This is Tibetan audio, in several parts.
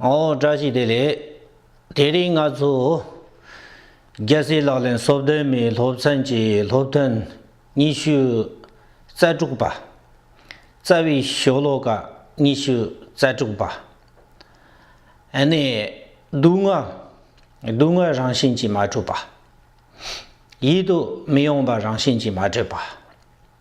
ཨོ་བཀྲ་ཤིས་བདེ་ལེགས། དེ་རིང་ང་ཚོ་རྒྱལ་སྲས་ལག་ལེན་གསོལ་སྟོན་མའི་སློབ་ཚན་གྱི་སློབ་ཐུན་ཉི་ཤུ་རྩ་དྲུག་པ། རྩ་བའི་ཤོ་ལོ་ཀ་ཉི་ཤུ་རྩ་དྲུག་པ། ཨ་ནེ། སྡུག་བསྔལ། སྡུག་བསྔལ་རང་བཞིན་གྱིས་མ་གྲུབ་པ། ཡིད་དུ་མི་ཡོང་པ་རང་བཞིན་གྱིས་མ་གྲུབ་པ།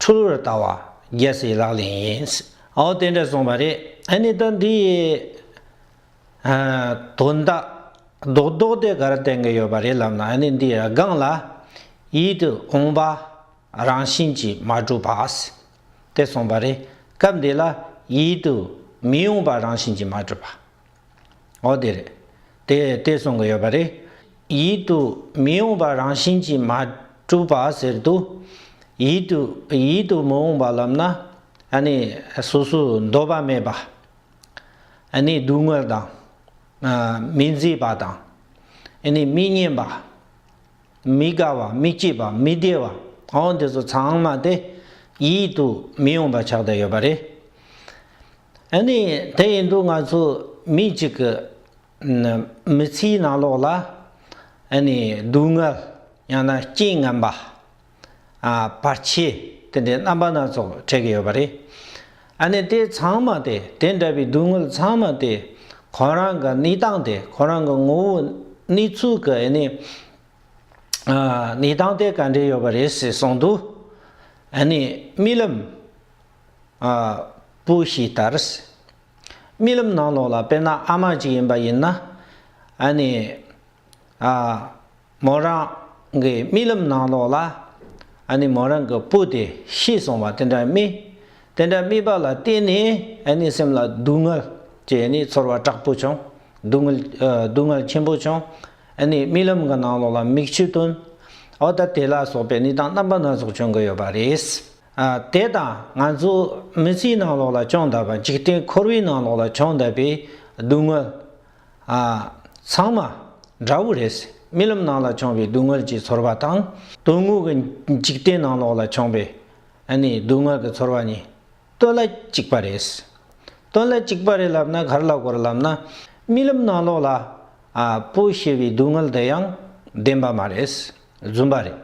ཁྲོ་ལོ་རུ་བལྟ་བ་རྒྱལ་སྲིད་ལག་ལེན་ཡིན། འོ་དེ་འདྲ་གསུངས་པ་རེད་ཨ་ནི་ད་འདི་ཡི་དོན་དག་རྡོག་རྡོག་དེ་གར་བསྟན་གྱི་ཡོད་པ་རེད་ལབ་ན་ཨ་ནི་འདི་ཡི་སྒང་ལ་ཡིད་དུ་འོང་པ་རང་བཞིན་གྱིས་མ་གྲུབ་བ། དེ་གསུངས་པ་རེད་སྐབས་འདི་ལ་ཡིད་དུ་མི་འོང་པ་རང་བཞིན་གྱིས་མ་གྲུབ་བ། འོ་དེ་རེད། དེ་དེ་གསུང་གི་ཡོད་པ་རེད། ཡིད་དུ་མི་འོང་པ་རང་བཞིན་གྱིས་མ་གྲུབ་པ་ཟེར་དུ། ཡིད་དུ་ཡིད་དུ་མི་འོང་པ་ལབ་ན་ཨ་ནི་སོ་སོའི་འདོད་པ་མེད་པ། ཨ་ནི་སྡུག་བསྔལ་དང། མི་མཛེས་པ་དང། ཨ་ནི་མི་སྙན་པ། མི་དགའ་བ་མི་སྐྱིད་པ་མི་བདེ་བ་འོ་དེ་ཚོ་ཚང་མ་དེ་ཡིད་དུ་མི་འོང་པ་ཆགས་བསྡད་ཡོད་པ་རེད། ཨ་ནི་དེ་ཡིན་དུས་ང་ཚོ་མི་གཅིག་གི་མི་ཚེའི་ནང་ལོགས་ལ་ཨ་ནི་སྡུག་བསྔལ་ཡང་ན་རྐྱེན་ངན་པ། བར་ཆད་དེ་འདྲའི་རྣམ་པ་སྣ་ཚོགས་འཕྲད་ཀྱི་ཡོད་པ་རེད། ཨ་ནི་དེ་ཚང་མ་དེ་དེ་འདྲ་བའི་སྡུག་བསྔལ་ཚང་མ་དེ་ཁོ་རང་གི་གནས་སྟངས་དེ་ཁོ་རང་གི་ངོ་བོ་གནས་ཚུལ་གྱི་ཨ་ནི་གནས་སྟངས་དེ་ག་འདྲས་ཡོད་པ་རེད་ཟེར་གསུངས་འདུག་ཨ་ནི་རྨི་ལམ། པོ་ཞིག་ལྟར། རྨི་ལམ་ནང་ལོགས་ལ་དཔེར་ན་ཨ་མ་ཅིག་ཡིན་པ་ཡིན་ན། ཨ་ནི། མོ་རང་གི་རྨི་ལམ་ནང་ལོགས་ལ་ཨ་ནི་མོ་རང་གི་པོ་དེ་ཤི་སོང་བ་དེ་འདྲ་རྨི། དེ་འདྲ་རྨིས་པ་ལ་བརྟེན་ནས་ཨ་ནི་སེམས་ལ་སྡུག་བསྔལ་སྐྱེས་ནས་ཚོར་བ་དྲག་པོ་བྱུང། སྡུག་བསྔལ་ཆེན་པོ་བྱུང། ཨ་ནི་རྨི་ལམ་གྱི་ནང་ལོགས་ལ་མིག་ཆུ་བཏོན། འོ་ད་དེ་ལ་སོགས་པའི་ནུས་དང་རྣམ་པ་སྣ་ཚོགས་བྱུང་གི་ཡོད་པ་རེད། དེ་དང་ང་ཚོ་མི་ཚེའི་ནང་ལོགས་ལ་སྤྱང་ལྟ་བ་འཇིག་རྟེན་འཁོར་བའི་ནང་ལོགས་ལ་སྤྱང་ལྟ་བའི་སྡུག་བསྔལ། ཚང་མ་འདྲ་བོ་རེད། རྨི་ལམ་ནང་ལ་སྤྱང་བའི་སྡུག་བསྔལ་གྱི་ཚོར་བ་དང་དོན་དངོས་ཀྱི་འཇིག་རྟེན་ནང་ལོགས་ལ་སྤྱང་བའི་སྡུག་བསྔལ་གྱི་ཚོར་བ་གཉིས་སྟོད་ལ་གཅིག་པ་རེད། སྟོད་ལ་གཅིག་པ་རེད་ལབ་ན་གར་ལ་སྐོར་ལབ་ན་རྨི་ལམ་ནང་ལོགས་ལ་སྤོས་ཞེས་པའི་སྡུག་བསྔལ་དེ་ཡང་བདེན་པ་མ་རེད། རྫུན་པ་རེད།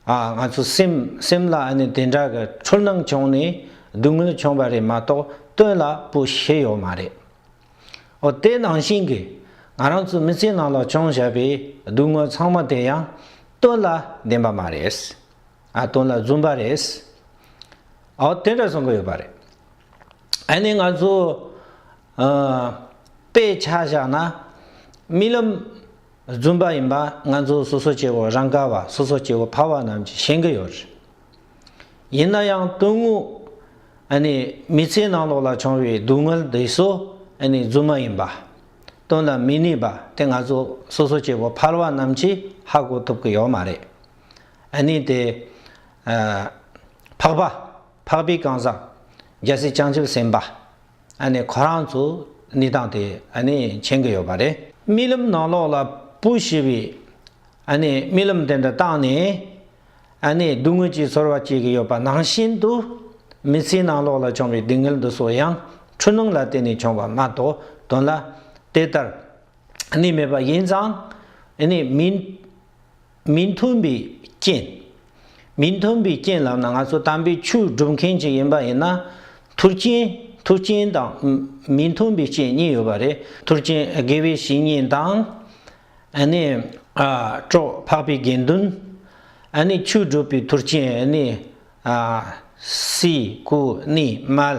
ཨ། ང་ཚོ་སེམས་སེམས་ལ་ཨ་ནི་དེ་འདྲ་གི་འཁྲུལ་སྣང་བྱུང་ནས་སྡུག་བསྔལ་བྱུང་བ་རེད་མ་གཏོགས་སྟོན་ལ་པོ་ཤེས་ཡོད་མ་རེད། ཨོ་དེ་ནང་བཞིན་གྱི་ང་རང་ཚོའི་མི་ཚེའི་ནང་ལ་བྱུང་བཞག་པའི་སྡུག་བསྔལ་ཚང་མ་དེ་ཡང་སྟོན་ལ་བདེན་པ་མ་རེད། ཨ་སྟོན་ལ་བརྫུན་པ་རེད། ཨོ་དེ་འདྲ་གསུང་གི་ཡོད་པ་རེད། ཨ་ནི་ང་ཚོ། ཨ། དཔེ་ཆ་བཞག་ན་རྨི་ལམ། རྫུན་པ་ཡིན་པ་ང་ཚོ་སོ་སོ་སྐྱེ་བོ་རང་ག་བ་སོ་སོ་སྐྱེ་བོ་ཕ་བ་རྣམས་ཀྱིས་ཤེས་གི་ཡོད་རེད། ཡིན་ན་ཡང་དོན་དངོས་ནི་མི་ཚེའི་ནང་ལོགས་ལ་བྱུང་བའི་སྡུག་བསྔལ་འདི་སོ་ནི་རྫུན་མ་ཡིན་པ། དོན་ལ་མི་ནུས་པ་དེ་ང་ཚོ་སོ་སོ་སྐྱེ་བོ་ཕར་བ་རྣམས་ཀྱིས་ཧ་གོ་ཐུབ་གི་ཡོད་མ་རེད། ནི་དེ། འཕགས་པ། འཕགས་པའི་གང་ཟག། རྒྱལ་སྲས་བྱང་ཆུབ་སེམས་དཔའ། ཨ་ནི་ཁོ་རང་ཚོ་གནས་སྟངས་དེ་ཨ་ནི་མཁྱེན་གི་ཡོད་པ་རེད། རྨི་ལམ་ནང་ལོགས་ལ་པུ་ཞེས་པའི་ཨ་ནི་རྨི་ལམ་དེ་འདྲ་བཏང་ནས་ཨ་ནི་སྡུག་བསྔལ་གྱི་ཚོར་བ་སྐྱེས་གི་ཡོད་པ་ནང་བཞིན་དུ་མི་ཚེའི་ནང་ལོགས་ལ་བྱུང་བའི་སྡུག་བསྔལ་འདི་སོགས་ཡང་འཁྲུལ་སྣང་ལ་བརྟེན་ནས་བྱུང་བ་མ་གཏོགས་དོན་ལ་དེ་ལྟར་ཨ་ནི་མེད་པ་ཡིན་ཙང་ཨ་ནི་མིན། མི་མཐུན་པའི་རྐྱེན། མི་མཐུན་པའི་རྐྱེན་ལབ་ན་ང་ཚོ་དམ་པའི་ཆོས་སྒྲུབ་མཁན་གཅིག་ཡིན་པ་ཡིན་ན། མཐུ་རྐྱེན། མཐུ་རྐྱེན་དང། མི་མཐུན་པའི་རྐྱེན་གཉིས་ཡོད་པ་རེད། མཐུ་རྐྱེན་དགེ་བའི་བཤེས་གཉེན་དང། ཨ་ནི། གྲོགས་འཕགས་པའི་དགེ་འདུན། ཨ་ནི་ཆོས་སྒྲུབ་པའི་མཐུ་རྐྱེན་ཨ་ནི། སྲས། སྐུ་ནི། མལ།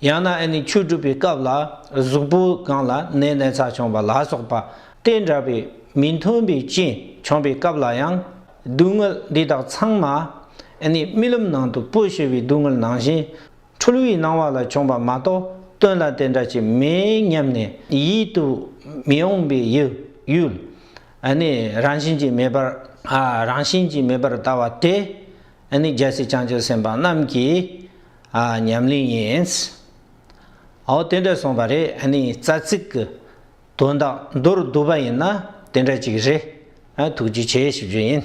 ཡང་ན་ཨེ་ནི་ཆོས་སྒྲུབ་པའི་སྐབས་ལ་གཟུགས་པོ་གང་ལ་ནད་ནས་ཚ་བྱུང་བ་ལ་སོགས་པ་སྟེ་འདྲ་བའི་མི་མཐུན་པའི་རྐྱེན་བྱུང་བའི་སྐབས་ལ་ཡང་སྡུག་བསྔལ་འདི་དག་ཚང་མ་ཨེ་ནི་རྨི་ལམ་ནང་དུ་པོ་ཞེས་བའི་སྡུག་བསྔལ་ནང་བཞིན་འཁྲུལ་བའི་སྣང་བ་ལ་བྱུང་བ་མ་གཏོགས་སྟོན་ལ་དེ་འདྲ་ཅིག་མེད་སྙམ་ནས་ཡིད་དུ་མི་འོང་པའི་ཡུལ་ཨེ་ནི་རང་བཞིན་གྱིས་མེད་པར་རང་བཞིན་གྱིས་མེད་པར་ལྟ་བ་དེ་ཨེ་ནི་རྒྱལ་སྲིད་བྱང་ཆུབ་སེམས་དཔའ་རྣམས་ཀྱིས། ཨ། ཉམས་ལེན་ཡིན། ཨོ། དེ་འདྲ་སོང་བ་རེད་ཨ་ནི་རྩ་ཚིག་གི་དོན་དག་མདོར་བསྡུ་བ་ཡིན་ན་དེ་འདྲ་ཅིག་རེད་ཨ་ཐུགས་རྗེ་ཆེ་ཞུ་རྒྱུ་ཡིན།